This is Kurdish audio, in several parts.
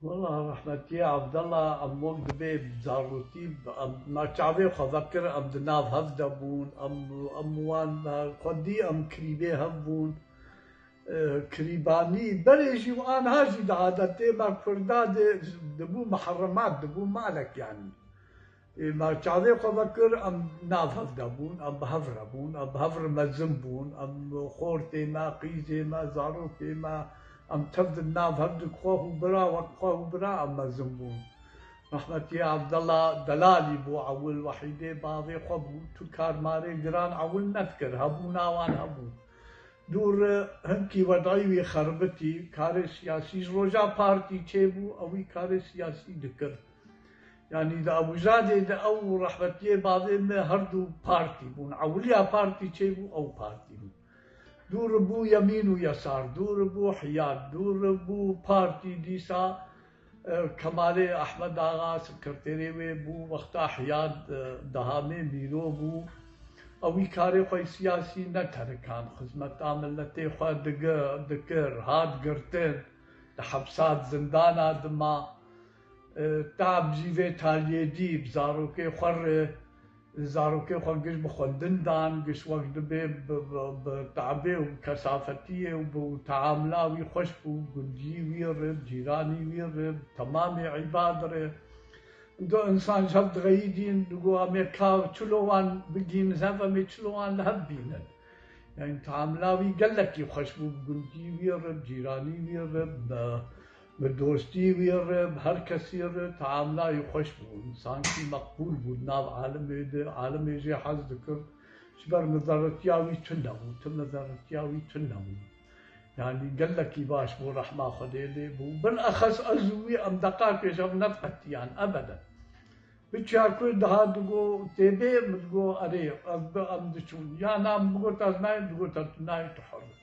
Wela rehmetî Evdela em wek divê bi zarokî em na çavê xwe vekir em di nav hev de bûn em em wan xwedî em kirîbê hev bûn kirîbanî berê jî û anha jî di adetê me kurda dê dibû miheremat dibû malek yanî Ma çavê xwe vekir, em nav hev de bûn, em bi hev re bûn, em bi hev re mezin bûn, em xortê me, qîzê me, zarokê me, em tev di nav hev di xwe hû bira, wek xwe hû bira em mezin bûn. Rehmetî Evdela Delalî bû ewil, wehîdê bavê xwe bû, tu karmarê giran ewil nedikir, hebûna wan hebû. Dûr hinkî wedî wî xeribitî, karê siyasî ji roja partî çêbû, ewî karê siyasî dikir. Yanî di Abûzadê de ew û rehmetiyê bavê me her du partî bûn. Ewiliya partî çê bû ew partî bû. Dû ri bû yemîn û yesar, dû ri bû hiyad, dû ri bû partî dîsa Kemalê Ehmed Axa sekreterê wê bû, wexta hiyad Dehamê Mîro bû. Ew wî karê xwe yê siyasî neterikand. Xizmeta miletê xwe dikir, hat girtin, di hepsa di zindana dima. Tab jî vê taliyê dî, bi zarokê xwe re zarokê xwe giş bi xwendin dan, giş wek dibê bi tabê û bi kesafetiyê û bi teamula wî xweş bû, bi gundiyî wî re, bi cîranî wî re, bi temamê îbad re. Do însan ji hev dixeyidîn, digot em ê ka çilo wan bigîn ji hev, em ê çilo wan li hev bînin. Yanî teamula wî gelekî xweş bû, bi gundiyî wî re, bi cîranî wî re, bi Bi dostî wî re bi her kesî re teamlayî xweş bû. Sankî meqbûl bû di nav alimê de, alimê jê hez dikir. Ji ber mizerretiya wî tund nebû, tu mizerretiya wî tund nebû. Yanî gelekî baş bû rehma Xwedê lê bû. Bilexes ez û wî em deqakê ji hev neqetiyan ebeden. Biçiya ku dihat digo tê bê min digo erê ez bi em diçûn. Ya na min bigot ez nayêm digot tu nayê tu hur î.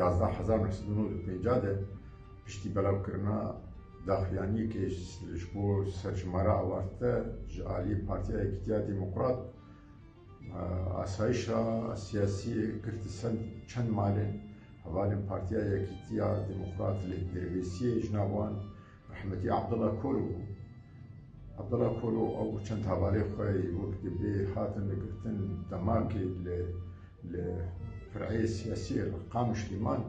Yazdeh hezar neh sed û nod û pêncah de piştî belavkirina daxuyaniyekê ji bo serjimara awarte ji aliyê Partiya Yekîtiya Demokrat asayişa siyasî girtî ser çend malên hevalên Partiya Yekîtiya Demokrat lê di rêvêsiyê ji nav wan Rehmetî Abdullah Kolo bû. Abdullah Kolo ew û çend havalê xwe yê wek divê hatin girtin demakê li li fireyê siyasî yê li Qamişlî man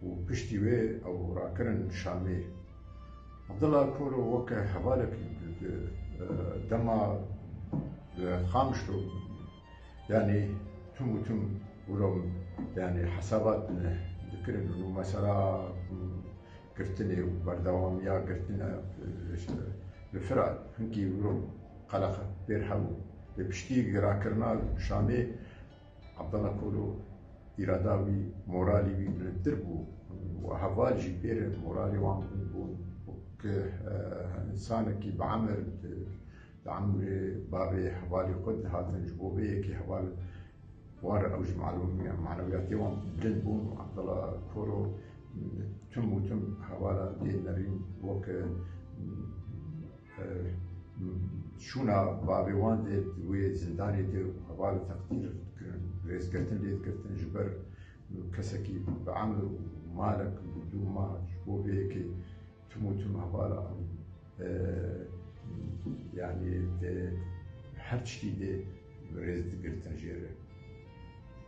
û piştî wê ew rakirin Şamê. Abdullah Kolo weke hevalekî di dema li Qamişlo Yanî tim û tim wilo yanî hesabat dikirin û mesela girtinê û berdewamiya girtina li Firat hinkî wilo qeleqe pêr hebû. Lê piştî girakirina şanê Abdala Kolo îrada wî, moralî wî bilindtir bû û heval jî pêr moralê wan bilind bûn ku insanekî bi emir di Em li bavê hevalê xwe dihatin, ji bo vê yekê heval wan re ew ji manewiyatê wan bilind bûn û Abdala Koro tim û tim hevala dê nerîn wek şûna bavê wan dê wê zindanê de û heval teqdîr kirin, rêzgirtin lê girtin ji ber kesekî bi emr û malek dû mah ji bo vê yekê Tim û tim heval an. Yanî tê her tiştî dê rêz digirtin jê re.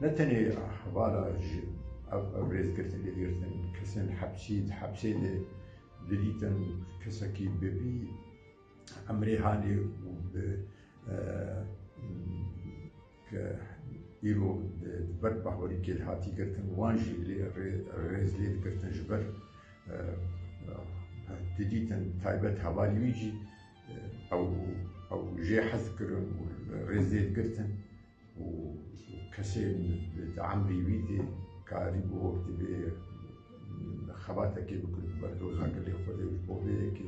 Ne tenê hevala ji ev rêzgirtin dê girtin kesên hepsî di hepsê dê dirîtin kesekî bi vî emrê halê û bi Ke îro di ber pahorî kêl hatî girtin wan jî lê rêz lêd girtin ji ber tu dîtin taybet hevalî wî jî ew ew jê hez kirin û rêz lêd girtin û kesê di emrî wî tê karî bû wek divê xebatekê bikin ber doza gelê xwedê ji bo vê yekê